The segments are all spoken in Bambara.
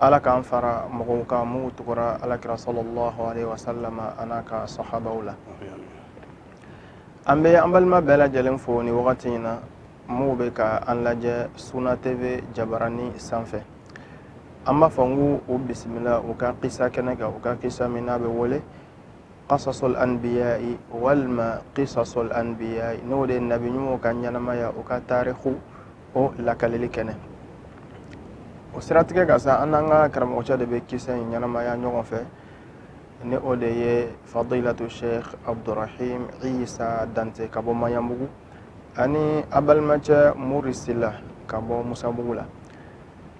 ala k'an fara mɔgɔw kan minnu tugura ala kira sɔlɔlɔhu alehi wasalama an'a ka sahabaw la an bɛ an balima bɛɛ lajɛlen fo ni wagati in na minnu bɛ ka an lajɛ suna tv jabarani sanfɛ an b'a fɔ n ko u bisimila u ka kisa kɛnɛ kan u ka kisa min n'a bɛ wele qasasul anbiyai walima qisasul anbiyai n'o de ye nabi ɲumanw ka ɲɛnamaya u ka tarikuw o lakaleli kɛnɛ o siratigɛ kan sa an n'an ka karamɔgɔcɛ de bɛ kisa in ɲɛnamaya ɲɔgɔn fɛ ni o de ye fadilatu sheikh abdurahim isa dante ka bɔ mayanbugu ani a balimacɛ mori sila ka bɔ musabugu la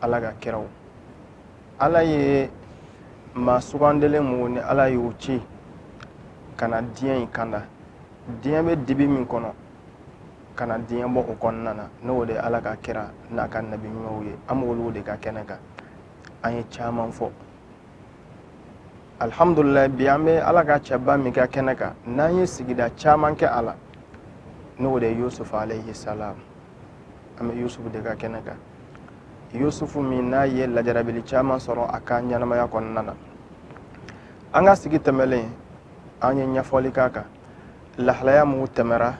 ala ka kiraw ala ye maa sugandelen mun ni ala y'o ci ka na diɲɛ in kanda diɲɛ bɛ dibi min kɔnɔ ka na diɲɛ bɔ o kɔnɔna na n'o de ala ka kira n'a ka nabi ɲumanw ye an b'olu de ka kɛnɛ kan an ye caman fɔ alhamdulilayi bi an bɛ ala ka cɛba min ka kɛnɛ kan n'an ye sigida caman kɛ a la n'o de ye yusufu alayhi salam an bɛ yusufu de ka kɛnɛ kan yusufu min n'a ye lajarabili caman sɔrɔ a ka ɲɛnamaya kɔnɔna na an ka sigi tɛmɛlen an ye ɲɛfɔli k'a kan lahalaya minnu tɛmɛra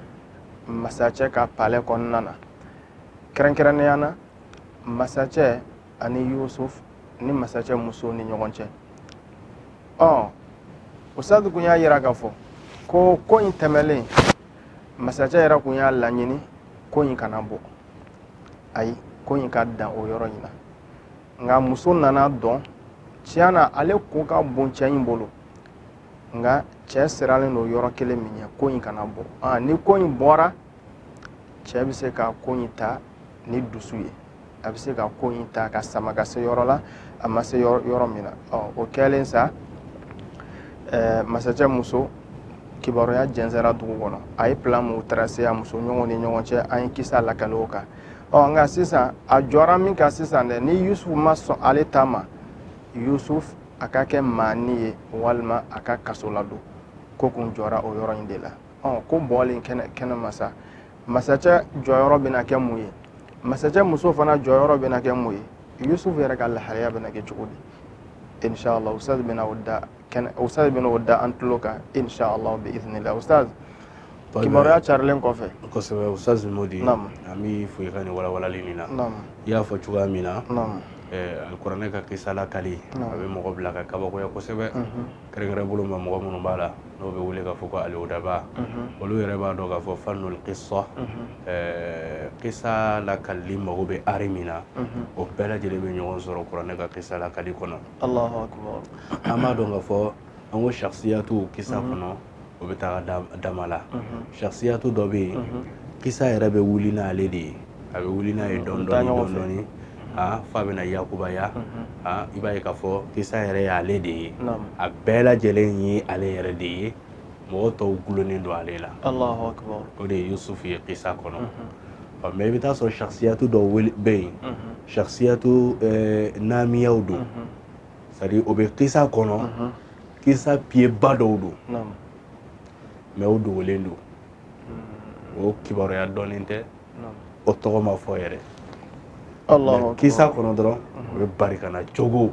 masacɛ ka palɛ kɔnɔna na kɛrɛnkɛrɛnnenya na masacɛ ani yusuf ni masacɛ muso ni ɲɔgɔn cɛ ɔ ustazu kun y'a yira k'a fɔ ko ko in tɛmɛlen masacɛ yɛrɛ kun y'a laɲini ko in kana bɔ ayi ko in ka dan o yɔrɔ in na nka muso nan'a dɔn tiɲɛ na ale ko ka bon cɛ in bolo nka cɛ siralen don yɔrɔ kelen min ɲɛ ko in kana bɔ ah, ni ko in bɔra cɛ bɛ se ka ko in ta ni dusu ye a bɛ se ka ko in ta ka sama ka se yɔrɔ la a ma se yɔrɔ min na o kɛlen sa masacɛ muso kibaruya jɛnsɛra dugu kɔnɔ a ye plan mun tracé a muso ɲɔgɔn ni ɲɔgɔn cɛ an ye kisa lakale o kan ɔ nka sisan a jɔra min kan sisan dɛ ni yusufu ma sɔn ale ta ma yusuf a ka kɛ maani ye walima a ka kaso ladon ko kun jɔra o yɔrɔ in de la ɔ ko bɔlen kɛnɛ kɛnɛ ma sa masacɛ jɔyɔrɔ bɛna kɛ mun ye masacɛ muso fana jɔyɔrɔ bɛna kɛ mun ye yusuf yɛrɛ ka lahalaya bɛna kɛ cogo di inshallah ustaz bɛna o da kɛnɛ ustaz bɛna o da an tulo kan inshallah bi iznillah ustaz kibaruya carilen kɔfɛ kosɛbɛ ustaz modi an b'i fo i ka nin walawalali nin na i y'a fɔ cogoya min na eh, alikuranɛ ka kisa lakali a bɛ mɔgɔ bila ka kabakoya kosɛbɛ mhm. kɛrɛnkɛrɛn bolo ma mɔgɔ minnu b'a la n'o bɛ wele k'a fɔ ko al-udaba mhm. olu yɛrɛ b'a dɔn k'a fɔ fanul kisa mhm. eh, kisa lakali mago bɛ art min na o bɛɛ lajɛlen bɛ ɲɔgɔn sɔrɔ kuranɛ ka kisa lakali kɔnɔ Allahu akbar an b'a dɔn k'a fɔ an ko shakhsiyatu kisa kɔnɔ o bɛ taa dama la shakhsiyatu dɔ bɛ yen kisa yɛrɛ bɛ wuli n'ale de ye a bɛ wuli n'a ye dɔɔni dɔɔni dɔɔni dɔɔni f'a bɛna yakubaya i b'a ye k'a fɔ kisa yɛrɛ y'ale de ye a bɛɛ lajɛlen ye ale yɛrɛ de ye mɔgɔ tɔw gulonnen don ale la o de ye yusufu ye kisa kɔnɔ mais i bɛ taa sɔrɔ shakhsiyatu dɔw bɛ yen shakhsiyatu naamiyaw don c'est-à-dire o bɛ kisa kɔnɔ kisa piyeba dɔw don mais o dogolen don o kibaruya dɔnnen tɛ o tɔgɔ ma fɔ yɛrɛ kisa kɔnɔ dɔrɔn o bɛ barikana cogo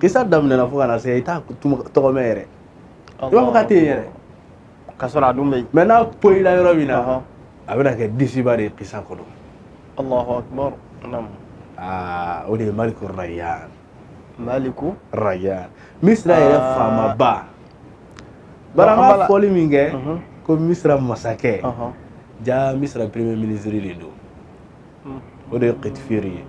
kisa daminɛ na fo ka na se i t'a tɔgɔ mɛn yɛrɛ i b'a fɔ k'a tɛ yen yɛrɛ ka sɔrɔ a dun bɛ yen mais n'a poyila yɔrɔ min na a bɛna kɛ disiba de ye kisa kɔnɔ allahu akbar aa o de ye maliku rayan maliku rayan misira yɛrɛ faamaba bari an b'a fɔli min kɛ ko misira masakɛ jaa misira premier ministre de don o de ye kitifiri ye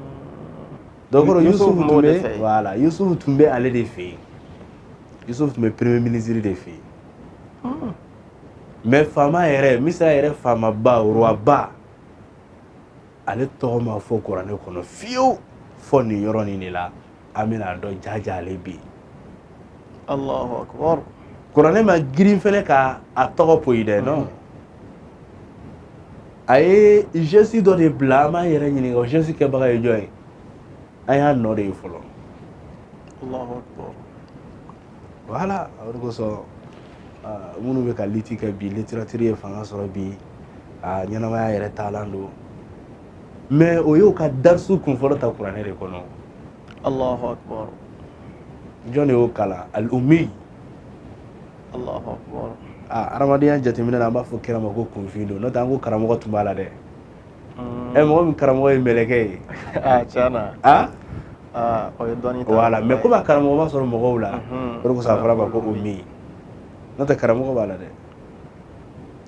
donc kɔrɔ Yusufu tun bɛ voilà Yusufu tun bɛ ale de fɛ yen Yusufu tun bɛ premier ministre de fɛ yen ah. mais faama yɛrɛ Misira yɛrɛ faamaba roi ba ale tɔgɔ ma fɔ kuranɛ kɔnɔ fiyewu fo nin yɔrɔ nin de la an bɛn'a dɔn jaja ale bɛ yen Allahu akbar kuranɛ ma girin fɛnɛ ka a tɔgɔ poyi dɛ non a ye geste dɔ de bila an b'an yɛrɛ ɲininka o geste kɛbaga ye jɔn ye an y'a nɔ de ye fɔlɔ allahu akbar voilà o de kosɔn minnu bɛ ka liti kɛ bi littérature ye fanga sɔrɔ bi a ɲɛnamaya yɛrɛ taalan don mais o y'o ka darisu kunfɔlɔ ta kuranɛ de kɔnɔ allahu akbar jɔn de y'o kalan al-ummi aa adamadenya jateminɛ na an b'a fɔ kira ma ko kunfin don n'o tɛ an ko karamɔgɔ tun b'a la dɛ ɛ eh, mɔgɔ min karamɔgɔ ye mɛlɛkɛ ye ah, tiɲɛna ah? ah, o ye dɔnni ta voilà mais komi a karamɔgɔ ma sɔrɔ mɔgɔw la mhm. o de kosɔn a fɔra ma ko ummi n'o tɛ karamɔgɔ b'a la dɛ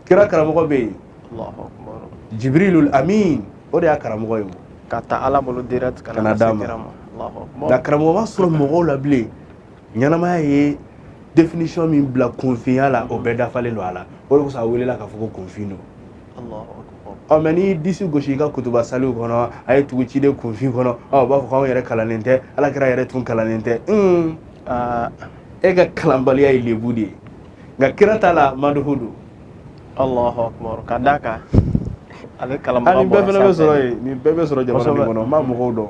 kira karamɔgɔ bɛ yen jibrilul amin o de y'a karamɔgɔ ye k'a ta ala bolo direct ka n'a d'a ma nka karamɔgɔ ma sɔrɔ mɔgɔw la bilen ɲɛnamaya ye définition min bila kunfinya la o bɛɛ dafalen don a la o de kosɔn a welela k'a fɔ ko kunfin don ɔ mais n'i disi gosi i ka kutuba saliw kɔnɔ a ye tugu ciden kunfin kɔnɔ ɔ u b'a fɔ ko anw yɛrɛ kalannen tɛ ala kira yɛrɛ tun kalannen tɛ un e ka kalanbaliya ye lebu de ye nka kira ta la maduhu don Allahu akbar ka d'a kan ale kalanbaga bɔra sanfɛ nin bɛɛ fana bɛ sɔrɔ yen nin bɛɛ bɛ sɔrɔ jamana min kɔnɔ n b'a mɔgɔw dɔn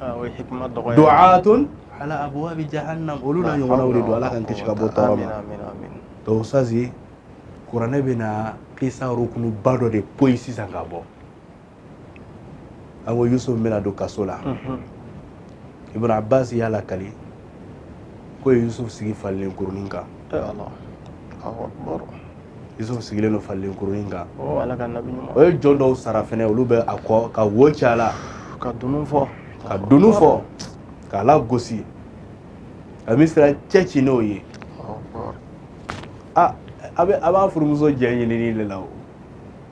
ah, du'atun ala abwabi jahannam olu n'a ɲɔgɔnnaw de don ala k'an kisi ka bɔ tɔɔrɔ ma donc sazi kuranɛ bɛna kisa rukunuba dɔ de poyi sisan ka bɔ an ko yusuf bɛna don kaso la ibn abbas y'a lakali k'u ye yusufu sigi falilen kurunin kan yusufu sigilen don falilen kurunin kan u ye jɔn dɔw sara fɛnɛ olu bɛ a kɔ ka wo ci a la ka dunun fɔ k'a lagosi ka misira cɛ ci n'o ye a b'a furumuso jɛ ɲinini de la o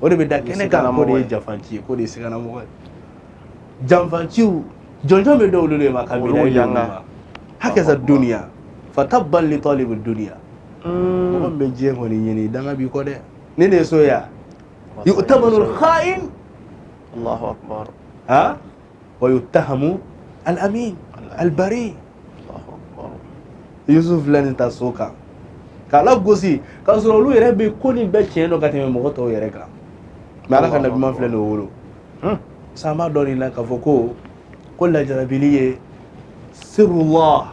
o de bɛ da kɛnɛ kan k'o de ye janfanci ye k'o de ye siganamɔgɔ ye janfanciw jɔnjɔn bɛ dɔw de ma kabini olu y'an ka hakaza duniya fatabban li talibi duniya mɔgɔ min bɛ diɲɛ kɔni ɲini danga b'i kɔ dɛ ni ne ye so ye yan yu'tamanu al-kha'in Allahu akbar ha wa yuttahamu al-amin al-bari yusuf filɛ nin ta so kan k'a lagosi k'a sɔrɔ olu yɛrɛ bɛ ko nin bɛɛ tiɲɛ dɔn ka tɛmɛ mɔgɔ tɔw yɛrɛ kan mais ala ka nabiman filɛ nin o wolo sama dɔɔnin na k'a fɔ ko ko lajarabili ye sirrullah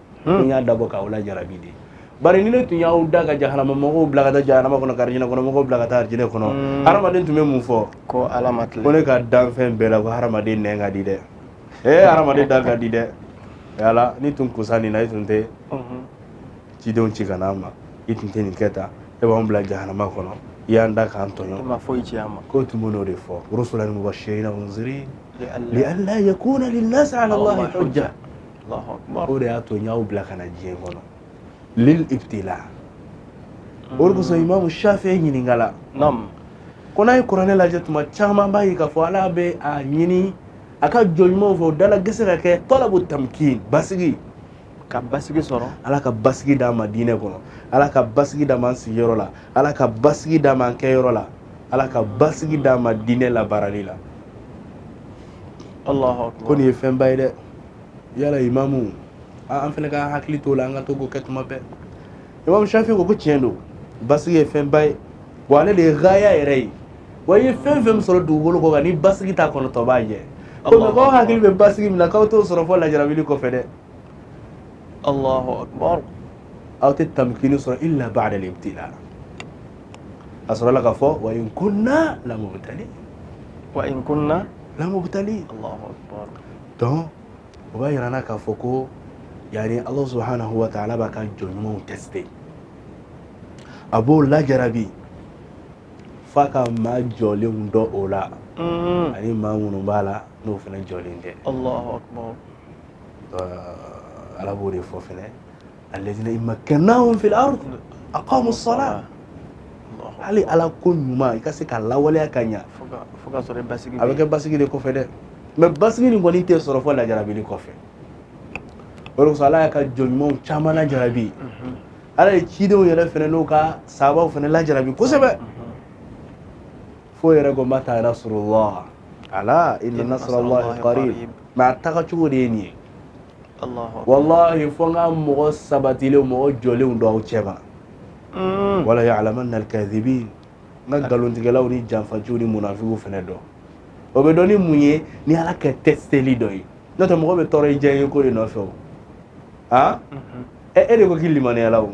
n y'a dabɔ k'aw lajarabi de bari ni ne tun y'aw da ka jahanama mɔgɔw bila ka taa jahanama kɔnɔ ka arijinɛ kɔnɔ mɔgɔw bila ka taa arijinɛ kɔnɔ hadamaden tun bɛ mun fɔ ko ala ma tilen ko ne ka danfɛn bɛɛ la ko hadamaden nɛn ka di dɛ ee hadamaden da ka di dɛ yala n'i tun kusan nin na i tun tɛ cidenw ci ka n'an ma i tun tɛ nin kɛ tan e b'anw bila jahanama kɔnɔ i y'an da k'an tɔɲɔ e ma foyi ci an ma k'u tun bɛn'o de fɔ rusulan mubashirina wa munzirin li alla yakuna linnasi ala allahi hujja o de y'a to n y'aw bila ka na diɲɛ kɔnɔ lil ibtila o de kosɔn imamu shafi'i ɲininkala ko n'a ye kuranɛ lajɛ tuma caman b'a ye k'a fɔ ala bɛ a ɲini a ka jɔn ɲumanw fɛ o dala gese ka kɛ talabu tamkin basigi ka basigi sɔrɔ ala ka basigi d'an ma diinɛ kɔnɔ ala ka basigi d'an ma an sigiyɔrɔ la ala ka basigi d'an ma an kɛyɔrɔ la ala ka basigi d'an ma diinɛ labaarali la ko nin ye fɛnba ye dɛ yala imamu an fɛnɛ ka hakili t'o la an ka to k'o kɛ tuma bɛɛ imamu shafi ko ko tiɲɛ don basigi ye fɛnba ye wa ale de ye gaya yɛrɛ ye wa i ye fɛn fɛn min sɔrɔ dugukolo kɔ kan ni basigi t'a kɔnɔ dɔ b'a jɛ ko mɛ k'aw hakili bɛ basigi min na k'aw t'o sɔrɔ fo lajarabili kɔfɛ dɛ alahu akbar aw tɛ tamkini sɔrɔ illa ba'da al-ibtila a sɔrɔla k'a fɔ wa in kunna lamubtalin wa in kunna lamubtalin donc o b'a yira an na k'a fɔ ko yani allah subhanahu wa ta'ala b'a ka jɔn ɲumanw teste a b'o lajarabi f'a ka maa jɔlenw dɔn o la mm-hmm. ani maa minnu b'a la n'o fana jɔlen tɛ ala b'o de fɔ fɛnɛ alladhina in makkannahum fil ard aqamu as-salah hali ala ko ɲuman i ka se ka lawaleya ka ɲa a bɛ kɛ basigi de kɔfɛ dɛ mɛ basigi nin kɔni tɛ sɔrɔ fo lajarabili kɔfɛ o de kosɔn ala y'a ka jɔn ɲumanw caman lajarabi mhm. ala ye cidenw yɛrɛ fɛnɛ n'u ka sabaw fɛnɛ lajarabi kosɛbɛ mhm. fo yɛrɛ ko mata nasrullah ala inna nasrallahi qarib mɛ a taga cogo de ye nin ye walahi fo n ka mɔgɔ sabatilenw mɔgɔ jɔlenw dɔn aw cɛma mm. wa laya'lamanna al-kazibin n ka nkalontigɛlaw ni janfaciw ni munafikiw fɛnɛ dɔn o bɛ dɔn ni mun ye ni ala ka tɛsiteli dɔ ye n'o tɛ mɔgɔ bɛ tɔɔrɔ i diyanyeko de nɔfɛ o aa e de ko k'i limaniyala o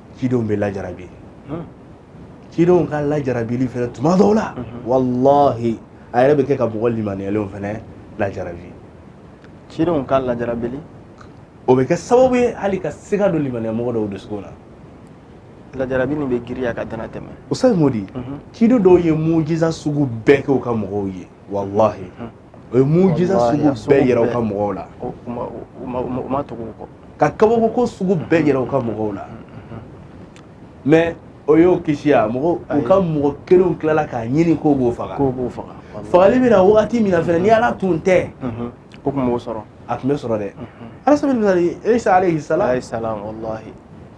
cidenw bɛ lajarabi cidenw ka lajarabili fɛnɛ tuma dɔw la walahi a yɛrɛ bɛ kɛ ka mɔgɔ limaneyalenw fɛnɛ lajarabi cidenw ka lajarabili o bɛ kɛ sababu ye hali ka siga don limaneya mɔgɔ dɔw dusukun na lajarabi nin bɛ girinya ka dana tɛmɛ o ça veut dire ciden dɔw ye mujiza sugu bɛɛ kɛ u ka mɔgɔw ye walahi O ye mujiza sugu bɛɛ yira u ka mɔgɔw la ka kabako sugu bɛɛ yira u ka mɔgɔw la mɛ o y'o kisi wa mɔgɔ u ka mɔgɔ kelenw tilala k'a ɲini k'o b'o faga fagali bɛ na waati min na fɛnɛ ni ala tun tɛ o tun sɔrɔ a tun bɛ sɔrɔ dɛ ala sabil misali isa alayhi salam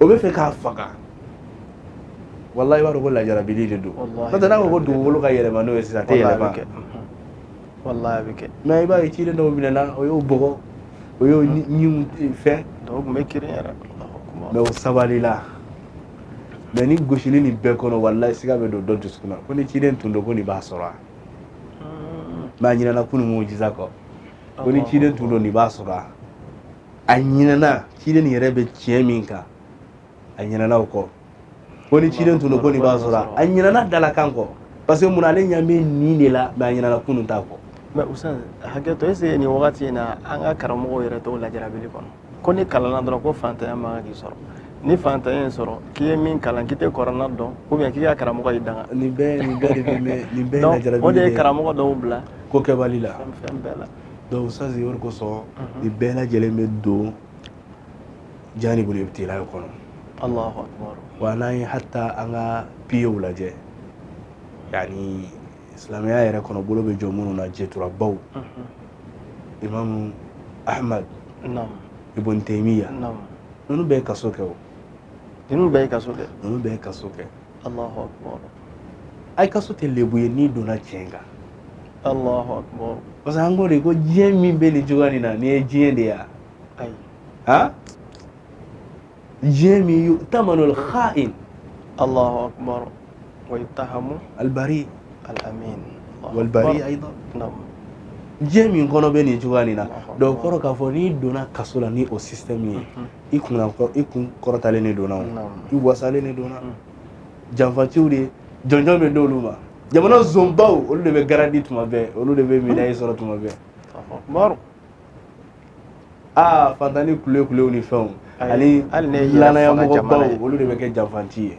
o b'a fɛ k'a faga walahi i b'a dɔn ko lajarabili de don n'o tɛ n'a ko ko dugukolo ka yɛlɛma n'o ye sisan a tɛ yɛlɛma walahi a bɛ kɛ mɛ i b'a ye ciden dɔw minɛna o y'o bugɔ o y'o ɲinw fɛn dɔw tun bɛ kari yɛrɛ mɛ o sabalila mɛ ni gosili nin bɛɛ kɔnɔ walayi siga bɛ don dɔ dusukun na ko ni ciden tun don ko nin b'a sɔrɔ mɛ a ɲinɛna kunun mujiza kɔ ko ni ciden tun don nin b'a sɔrɔ a ɲinɛna ciden yɛrɛ bɛ tiɲɛ min kan a ɲinɛna o kɔ ko ni ciden tun don ko nin b'a sɔrɔ a ɲinɛna dalakan kɔ parce que mun ale ɲɛ bɛ nin de la mɛ a ɲinɛna kunun ta kɔ mais ustaz hakɛto est-ce nin wagati in na an ka karamɔgɔw yɛrɛ t'o lajarabili kɔnɔ ko n'i kalanna dɔrɔn ko fantanya man kan k'i sɔrɔ ni fantanya y'i sɔrɔ k'i ye min kalan k'i tɛ kɔrɔna dɔn ou bien k'i ka karamɔgɔ y'i danga nin bɛɛ nin bɛɛ de bɛ nin bɛɛ ye lajarabili de ye o de ye karamɔgɔ dɔw bila ko kɛbali la fɛn bɛɛ la donc ça c'est yɔrɔ kosɔn nin bɛɛ lajɛlen bɛ don janibul ibtila kɔnɔ Allahu akbar wa n'an ye hatta an ka piyew lajɛ yani silamɛya yɛrɛ kɔnɔ bolo bɛ jɔ minnu na jɛturabaw imamu ahmad ibn taymiya ninnu bɛɛ ye kaso kɛ o ninnu bɛɛ ye kaso kɛ ninnu bɛɛ ye kaso kɛ Allahu akbar ayi kaso tɛ lebu ye n'i donna tiɲɛ kan Allahu akbar parce que an ko de ko diɲɛ min bɛ nin cogoya nin na nin ye diɲɛ de ye ayi ha diɲɛ min yu'tamanu al-kha'in Allahu akbar wa yuttahamu al-bari al-amin wal-bari aydan na'am diɲɛ min kɔnɔ bɛ nin cogoya nin na donc kɔrɔ k'a fɔ n'i donna kaso la ni o système ye i kun i kun kɔrɔtalen de donna i wasalen de donna janfatiw de jɔnjɔn bɛ d'olu ma jamana zonbaw olu de bɛ garandi tuma bɛɛ olu de bɛ médaille sɔrɔ tuma bɛɛ umaru aa fantani kule kulew ni fɛnw ani lanaya mɔgɔbaw olu de bɛ kɛ janfanti ye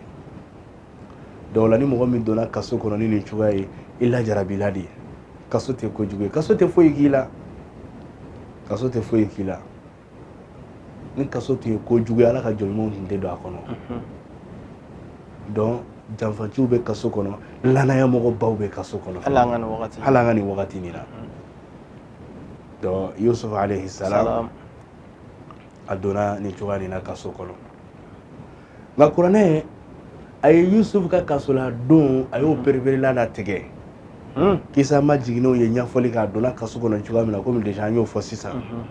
donc là ni mɔgɔ min donna kaso kɔnɔ ni nin cogoya ye i lajarabila de ye kaso tɛ kojugu ye kaso tɛ foyi k'i la kaso tɛ foyi k'i la ni kaso tun ye kojugu ye ala ka jɔnɲumanw tun tɛ don a kɔnɔ donc janfatiw bɛ kaso kɔnɔ lanaya mɔgɔbaw bɛ kaso kɔnɔ hali an ka nin wagati nin na donc yusufu alayhi salam a donna nin cogoya nin na kaso kɔnɔ nka kuranɛ a ye yusufu ka kaso ladon a y'o pereperelatigɛ hmm. kisa majiginnenw ye ɲɛfɔli k'a donna kaso kɔnɔ cogoya min na komi déjà an y'o fɔ sisan mhm.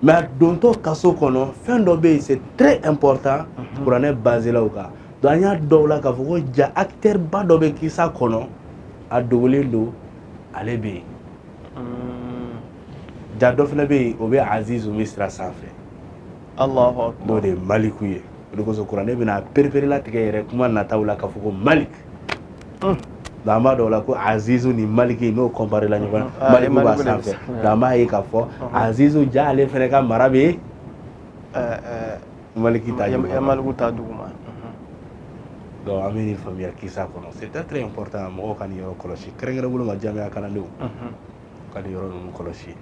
mais a dontɔ kaso kɔnɔ fɛn dɔ bɛ yen c'est très important mhm. kuranɛ basela o kan donc an y'a dɔn là k'a fɔ ko ja acteur ba dɔ bɛ kisa kɔnɔ a dogolen don ale bɛ yen hmm. ja dɔ fana bɛ yen o bɛ aziz misira sanfɛ n'o de ye maliku ye o de kosɔn kuranɛ bɛn'a pereperelatigɛ yɛrɛ kuma nataw la k'a fɔ ko malik nka an b'a dɔn là ko azizu ni maliki n'o kɔnparela ɲɔgɔn na maliku b'a sanfɛ nka an b'a ye k'a fɔ azizu ja ale fɛnɛ ka mara bɛ maliki ta duguma maliku ta duguma donc an bɛ nin faamuya kisa kɔnɔ c'est très important mɔgɔw ka nin yɔrɔ kɔlɔsi kɛrɛnkɛrɛn bolo ma jamiya kalandenw ka nin yɔrɔ ninnu kɔlɔsi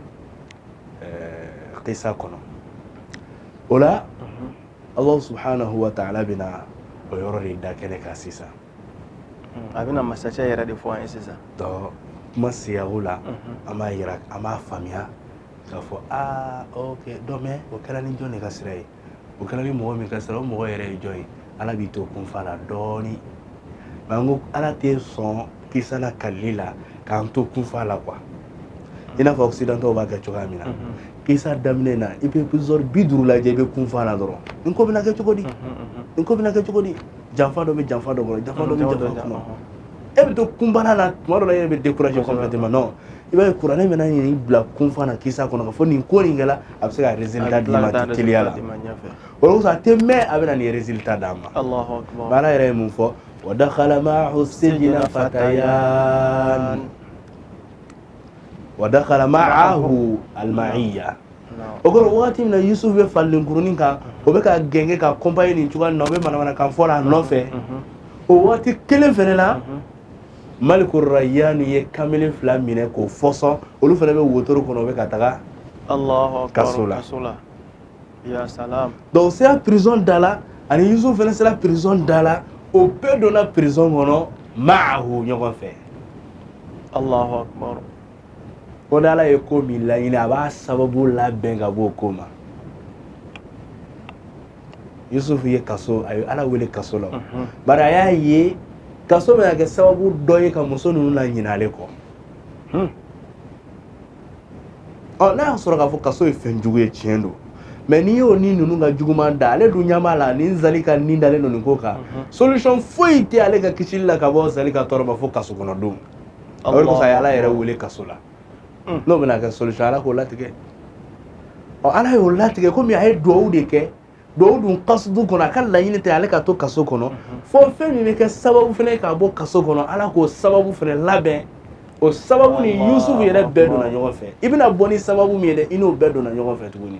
kisa eh, kɔnɔ o la Allah subhanahu wa ta'ala bɛna o yɔrɔ de da kɛnɛ kan sisan hmm, a bɛna masakɛ yɛrɛ de fɔ an ye sisan donc kuma siyago la mhm. an b'a yira an b'a faamuya k'a fɔ aa ok donc mais o kɛra ni jɔn de ka sira ye o kɛra ni mɔgɔ min ka sira o mɔgɔ yɛrɛ ye jɔn ye ala b'i to kunfa la dɔɔni nka n ko ala tɛ sɔn kisa lakalili la k'an to kunfa la quoi i n'a fɔ occidentaux b'a kɛ cogoya min na kisa daminɛ na i bɛ épisode bi duuru lajɛ i bɛ kunfa la dɔrɔn nin ko bɛna kɛ cogo di nin ko bɛna kɛ cogo di janfa dɔ bɛ janfa dɔ kɔnɔ janfa dɔ bɛ janfa kɔnɔ e bɛ to kunbana la tuma dɔ la e yɛrɛ bɛ décourager complètement non i b'a ye kuranɛ bɛna nin bila kunfa na kisa kɔnɔ k'a fɔ nin ko nin kɛla a bɛ se ka résultat d'i ma teliya la o de kosɔn a tɛ mɛn a bɛna nin résultat d'a ma ba ala yɛrɛ ye mun fɔ wa dakhala ma'ahu sijna fatayan wa dakhala ma'ahu al-ma'iyya o kɔrɔ wagati min na Yusuf bɛ fali kurunin kan o bɛ k'a gɛngɛn k'a accompagner nin cogoya nin na o bɛ manamanakan fɔ la a nɔfɛ o wagati kelen fɛnɛ na maliku rayyanu ye kamalen fila minɛ k'o fɔsɔn olu fana bɛ wotoro kɔnɔ u bɛ ka taga kaso la donc u sera prison da la ani yusufu fana sera prison da la o bɛɛ donna prison kɔnɔ maahu ɲɔgɔn fɛ allahu akbar ko ni ala ye ko min laɲini a b'a sababu labɛn ka bɔ o ko ma Yusufu ye kaso a ye ala wele kaso la bari a y'a ye kaso bɛna kɛ sababu dɔ ye ka muso ninnu naɲina ale kɔ ɔ n'a y'a sɔrɔ k'a fɔ kaso ye fɛn jugu ye tiɲɛ don mais n'i y'o ni ninnu ka juguman da ale dun ɲɛ b'a la ni zali ka nin dalen don nin ko kan solution foyi tɛ ale ka kisili la ka bɔ zali ka tɔɔrɔ ma fo kaso kɔnɔ don o de kosɔn a ye ala yɛrɛ wele kaso la mm. n'o bɛna kɛ solution ala k'o latigɛ ɔ ala y'o latigɛ komi a ye duwawu de kɛ duwawu dun kasudu kɔnɔ a ka laɲini tɛ ale ka to kaso kɔnɔ mm-hmm. fo fɛn min bɛ kɛ sababu fɛnɛ k'a bɔ kaso kɔnɔ ala k'o sababu fɛnɛ labɛn o sababu ni yusufu yɛrɛ bɛɛ donna ɲɔgɔn fɛ i bɛna bɔ ni sababu min ye dɛ i n'o bɛɛ donna ɲɔgɔn fɛ tuguni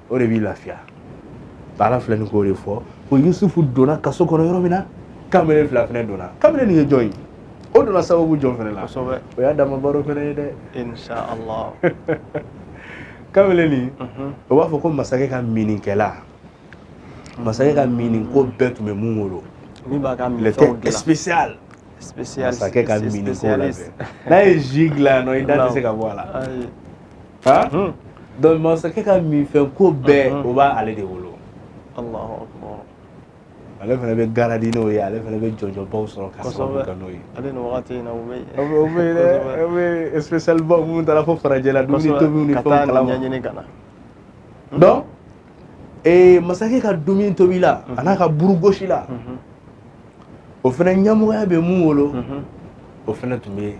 o de b'i lafiya ala filɛ nin k'o de fɔ ko yusufu donna kaso kɔnɔ yɔrɔ min na kamalen fila fɛnɛ donna kamalen nin ye jɔn ye o donna sababu jɔn fɛnɛ la kosɛbɛ o y'a dama baro fɛnɛ ye dɛ inshallah kamalen nin mhm. o b'a fɔ ko masakɛ ka mininkɛla masakɛ ka minin ko bɛɛ tun bɛ min bolo min b'a ka minfɛnw dilan spécial spécial masakɛ ka minin ko labɛn n'a ye ji dilan yan nɔ i da tɛ se ka bɔ a la donc masakɛ ka minfɛnko bɛɛ o b'a ale de bolo ale fana bɛ garadi n'o ye ale fana bɛ jɔyɔrɔbaw sɔrɔ ka sababu kɛ n'o ye minnu taara fo farajɛla donc ee masakɛ ka dumuni tobila a n'a ka burugosila o fana ɲamɔgɔya bɛ mun bolo o fana tun bɛ yen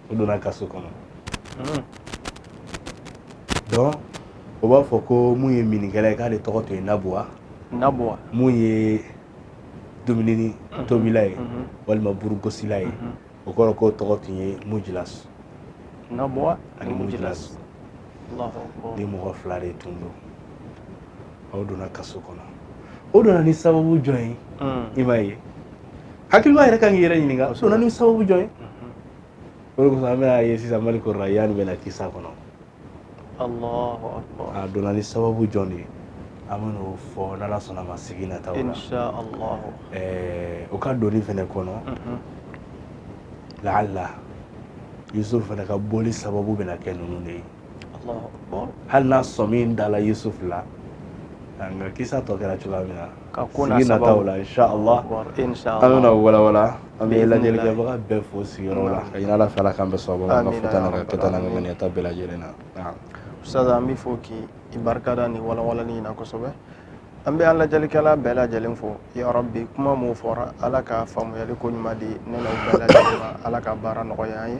o donna kaso kɔnɔ hmm. donc o b'a fɔ ko mun ye minnikɛla ye k'ale tɔgɔ tun ye nabuwa nabuwa mun ye dumuni hmm. tobila ye hmm. walima burugosila ye o kɔrɔ k'o tɔgɔ tun ye mujilas nabuwa ani mujilas nin mɔgɔ fila de tun don aw donna kaso kɔnɔ o donna ni sababu jɔn ye i m'a ye hakilima yɛrɛ ka kan k'i yɛrɛ ɲininka o donna ni sababu jɔn ye o de kosɔn an bɛna ye sisan maliku rayan bɛna kisa kɔnɔ a donna ni sababu jɔn de ye an bɛn'o fɔ n'ala sɔnna ma sigi nataw la o ka donni fana kɔnɔ laala yusufu fana ka bɔli sababu bɛna kɛ ninnu de ye hali n'a sɔn min dala yusuf la nka kisa tɔ kɛra cogoya min na sigi nataw la inshallah an bɛna walawala an bɛ lajɛlikɛbaga bɛɛ fo sigiyɔrɔ la ka ɲini ala fɛ ala k'an bɛɛ sababu an ka fɔta n'an ka kɛta n'an ka ŋaniyata bɛɛ lajɛlen na ustaz an b'i fo k'i barika da nin walawalali in na kosɛbɛ an bɛ an lajɛlikɛla bɛɛ lajɛlen fo yarabi kuma min fɔra ala ka faamuyali ko ɲuman di ne n'aw bɛɛ lajɛlen ma ala ka baara nɔgɔya an ye